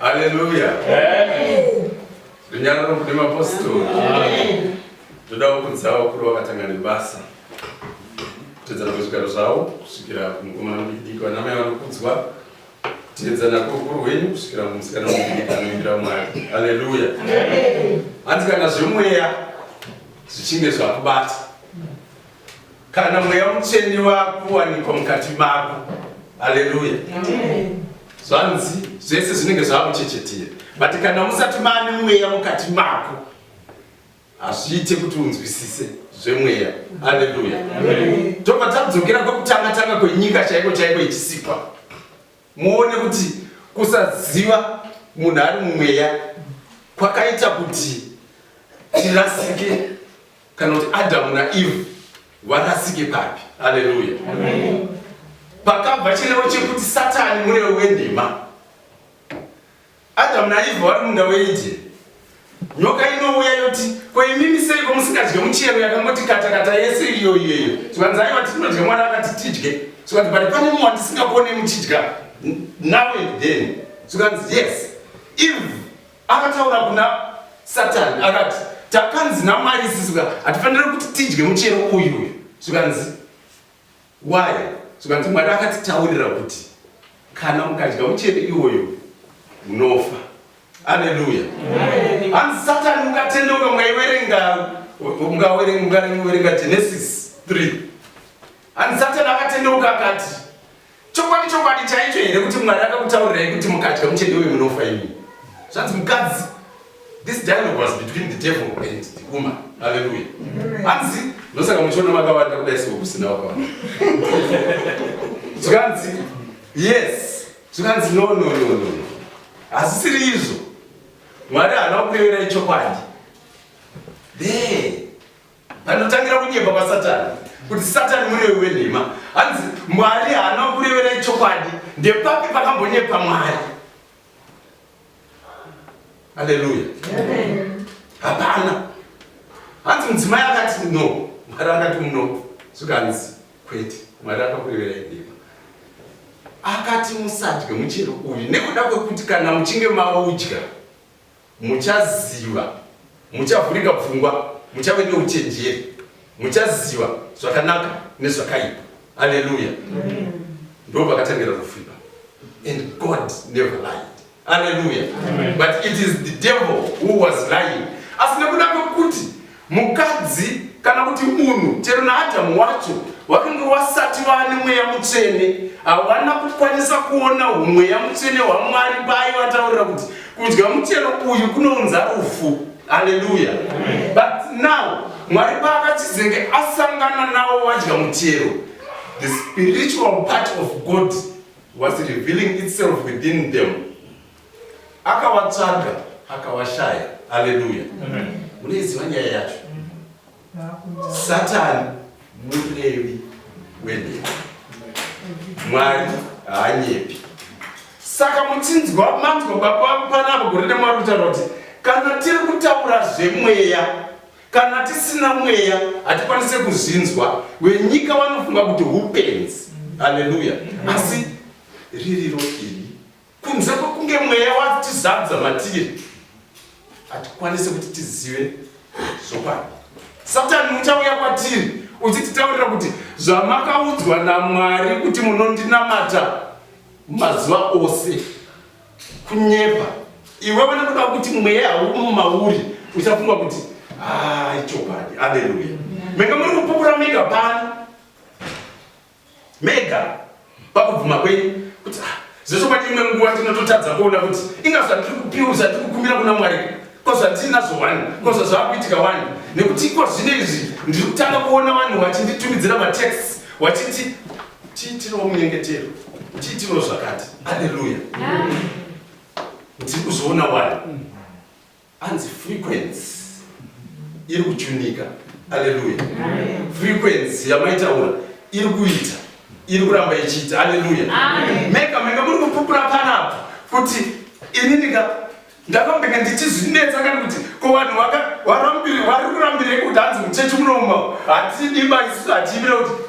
Haleluya. Runyararo kune mapostori. Toda kukudzawo kuri wakatanga nebasa. Tedzana kuzvigaro zvawo kusvikira kumukomana mudiki vanamai vanokudzwa Tiedza nako ukuru hwenyu kusvikira mumusikana mudiki anoimbira Mwari. Haleluya. Hanzi kana zvemweya zvichinge zvakubata, kana mweya mutsvene wakuwanikwa mukati mako, haleluya, zvanzi zvese zvinenge zvakuchechetira, but kana musati mane mweya mukati mako hazviite kuti unzwisise zvemweya aleluya tobva tadzokera kwekutanga tanga kwenyika chaiko chaiko ichisikwa muone kuti kusaziva munhu ari mumweya kwakaita kuti tirasike kana kuti adamu naeve varasike papi aleluya pakabva chirevo chekuti satani murevo wenhema Adamu naEvha vari munda weEdheni. Nyoka inouya yoti, Ko imimi seiko musingadye muchero yakangoti katakata yese iyo iyeyo? Zvikanzi aiwa tinodya Mwari akati tidye. Zvikanzi but pane mumwe wandisingakone muchidya now and then. Zvikanzi yes. Eve akataura kuna Satan akati takanzi naMwari sisi ka hatifanire kuti tidye muchero uyu uyu. Zvikanzi Why? Zvikanzi Mwari akatitaurira kuti kana mukadya muchero iwoyo munofa. Haleluya. Hanzi Satani mukatendeuka mukaiverenga mukaverenga Genesis 3. Hanzi Satani akatendeuka akati chokwadi chokwadi chaicho here kuti Mwari akakutaurirai kuti mukadya muchero iwoyo munofa imi. Zvanzi mukadzi This dialogue was between the devil and the woman. Hallelujah. Hanzi ndosaka muchiona makawanda kudai siko kusina wakawanda. Zvikanzi yes. Zvikanzi no no no no no. Hazisiri izvo. Mwari haana kukuyeverai chokwadi. There. Panotangira kunyepa kwaSatani. Kuti Satani murevi wenhema. Hanzi Mwari haana kukuyeverai chokwadi. Ndepapi pakambonyepa Mwari? Haleluya. Hapana. Hanzi mudzimai akati no, Mwari akati no, zvikanzi kwete, Mwari akakurevera ndima. Akati musadye muchero uyu nekuda kwekuti kana muchinge maudya Muchaziva, muchavhurika pfungwa, muchave neuchenjeri, muchaziva zvakanaka nezvakaipa. Aleluya! Ndo pakatangira rufu ipa, and God never lied. Aleluya! But it is the devil who was lying, asi nekuda kwekuti Mukadzi kana kuti munhu chero naAdhamu wacho wakange wasati vaane mweya mutsvene, havana kukwanisa kuona umweya mutsvene hwaMwari paaivataurira kuti kudya muchero uyu kunounza rufu. Haleluya! But now Mwari paakachizenge asangana navo vadya muchero, the spiritual part of God was revealing itself within them. Akavatsvaga akavashaya. Haleluya! Munoiziva nyaya yacho? Satani murevi wenhepo, Mwari haanyepi. Saka muchinzwa manzwa baba panapa gore nemwari kutaura kuti kana tiri kutaura zvemweya kana tisina mweya hatikwanise kuzvinzwa wenyika vanofunga kuti hupenzi haleluya asi ririro iri Kunze kwekunge mweya watizadza matiri, hatikwanise kuti tizive zvokwadi. Satani uchauya kwatiri uchititaurira kuti zvamakaudzwa naMwari kuti munondinamata mazuva ose kunyepa. Iwewe nekuda kuti mweya haumu mauri uchafunga kuti ah, ichokwadi. Aleluya! Menge muri kupukuramika pano mega pakubvuma kwenyu kuti ah, zvechokwadi imwe nguva tinototadza kuona kuti inga zvatiri kupiwa zvatiri kukumbira kuna mwari ko zvatinazvo wani ko zvazvakuitika wani nekuti iko zvino izvi ndiri kutanga kuona vanhu vachinditumidzira matext vachiti tiitirawo munyengetero tiitirawo zvakati aleluya ndiri kuzviona wani Hanzi frequency iri kuchunika. Aleluya. Frequency yamaitaura iri kuita iri kuramba ichiita. Aleluya. Mega mega muri kupupura panapa kuti ini ndika ndakambenge ndichizvinetsa kani kuti ko vanhu varambire vari kurambirei kuti hanzi muchechi munomo hatidi maisu hatiimire kuti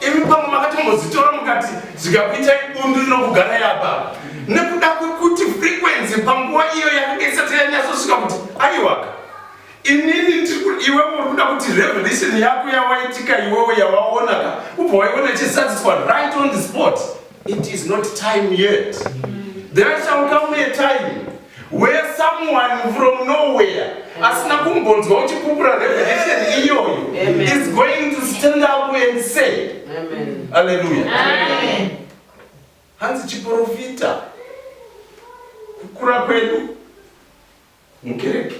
Imi pamwe makatombozitora mukati zvikakuitai bundu rinokugarai apa nekuda kwekuti frequency panguva iyo yakanga isati yanyatsosvika kuti aiwaka inini iwe uri kuda kuti revelation yako yawaitika iwewe yawaonaka ubva waiona ichisatiswa right on the spot it is not time yet there shall come a time Where someone from nowhere asina kumbonzwa uchipupura revelation iyoyo is going to stand up and say Hallelujah. Hanzi chiprofita kukura kwedu mukereke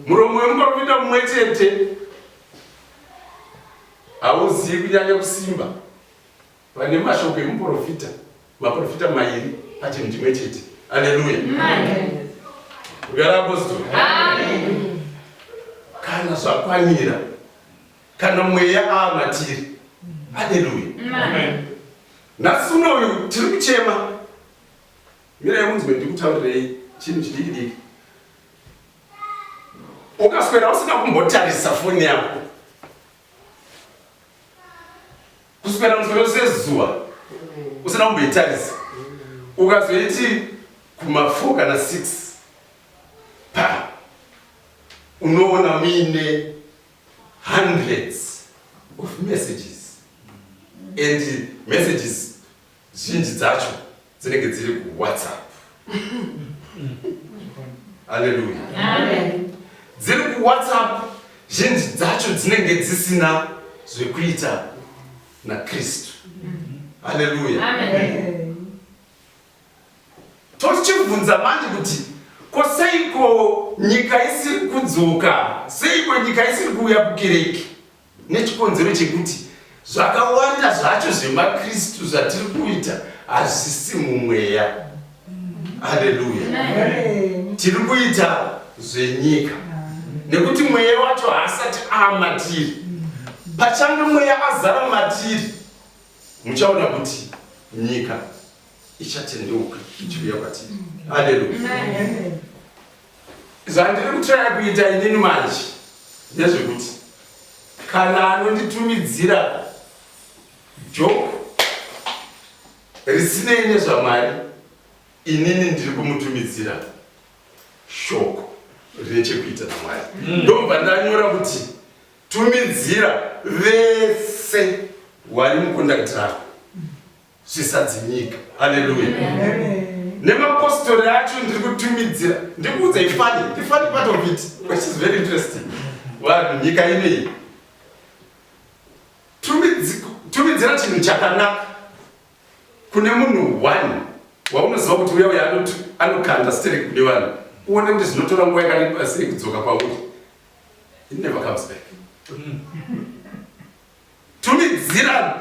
muromo wemuprofita mumwe chete hauzivi kunyanya kusimba Vane mashoko emuporofita, maporofita mairi pachinhu chimwe chete. Aleluya! Kugara apostoli. Kana zvakwanira, kana mweya ava matiri. Aleluya! Nhasi unoyu tiri kuchema. Mira yemunzwe ndikutaurirei chinhu chidiki diki. Ukaswera usina kumbotarisa foni yako kuswera musoro sezuva usina kumboitarisa ukazoiti kuma4 kana 6 pa unoona muine hundreds of messages and messages Zhinji dzacho dzinenge dziri ku WhatsApp. Haleluya. Amen. Dziri ku WhatsApp zhinji dzacho dzinenge dzisina zvekuita na Kristu. Haleluya. Amen. Tochibvunza manje kuti ko seiko nyika isiri kudzoka? Seiko nyika isiri kuuya kukereke? Nechikonzero chekuti zvakawanda zvacho zvemaKristu zvatiri kuita hazvisi mumweya. Haleluya! Tiri kuita zvenyika nekuti mweya wacho haasati amatiri. Pachange mweya azara matiri, muchaona kuti nyika ichatendeuka ichiuya kwatiri. Haleluya! zvandiri kutraya kuita inini manje ndezvekuti kana anonditumidzira joke risinei nezvamwari inini ndiri kumutumidzira shoko rine chekuita namwari mm. ndobva ndanyora kuti tumidzira vese wari mukondakitirako zvisadzimika. Haleluya. Nemapostori acho ndiri kutumidzira ndikuudza ifani ifani part of it which is very interesting vanhu nyika inei tumidzira chinhu chakanaka kune munhu one waunoziva kuti uya uya anokanda sterek kune vanhu uone kuti zvinotora nguva yakareba sei kudzoka kwauri it never comes back mm. Tumidzirano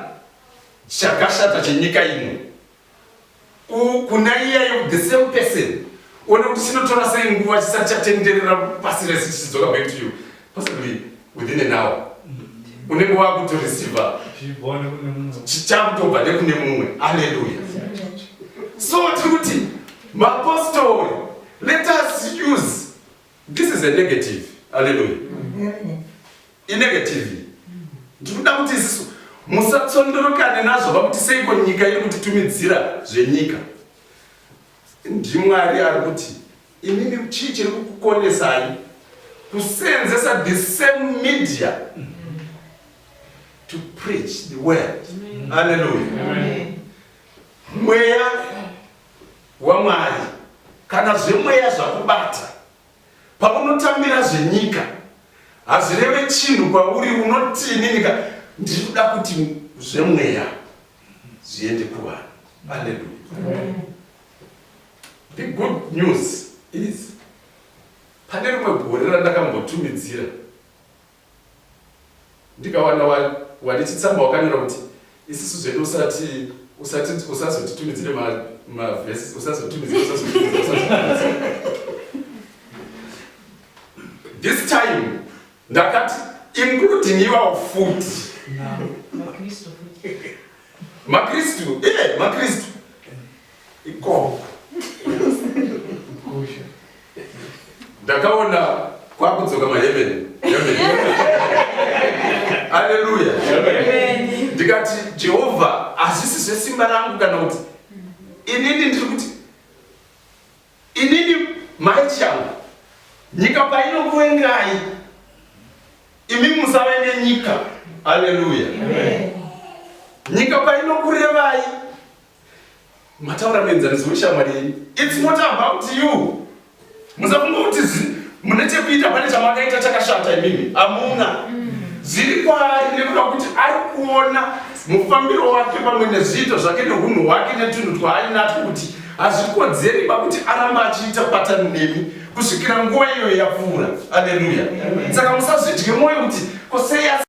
chakashata chenyika ino kuna iyayo the same person one kuti chinotora sei nguva chisati chatenderera pasi rese chichidzoka back to you possibly within an hour unenge wakutoreceiva chichakutobva nekune mumwe aleluya so tiri kuti mapostori let us use This is a negative. Hallelujah. Inegative. Ndikuda kuti isisu musatsondorokane nazvo vakuti seiko nyika iri kutitumidzira zvenyika. Ndimwari ari kuti imimi chii chiri kukukonesai kuseenzesa the same media to preach the word. Hallelujah. Mweya waMwari, kana zvemweya zvakubata paunotambira zvenyika hazvireve chinhu kwauri unotiininika ndikuda kuti zvemweya zviende kuvanhu aleluya the good news is pane rimwe gore randakambotumidzira ndikawana wandechitsamba wakanyora kuti isisu zvedu usati usati usazotitumidzire mavhesi usazotitumidzire this time ndakati including iwawo futi makristu eh, makristu ikoko ndakaona kwakudzoka maheveni aleluya ndikati jehovha hazvisi zvesimba rangu kana kuti inini ndiri kuti Inini mai Chiangu, nyika painokuvengai, imi musave nenyika. Haleluya! Nyika painokurevai, mataura muenzaniso weshamwari yenyu. It's not about you. Musafunga kuti mune chekuita pane chamakaita chakashata imimi, hamuna. Zviri kwaari nekuda kuti ari kuona Mufambiro wake pamwe nezviito zvake nehunhu hwake netunhu twaainatwo kuti hazvikodzeri ba kuti aramba achiita patani nemi kusvikira nguva iyoyo yapfuura. Aleluya! Saka musazvidye mwoyo kuti ko sei asi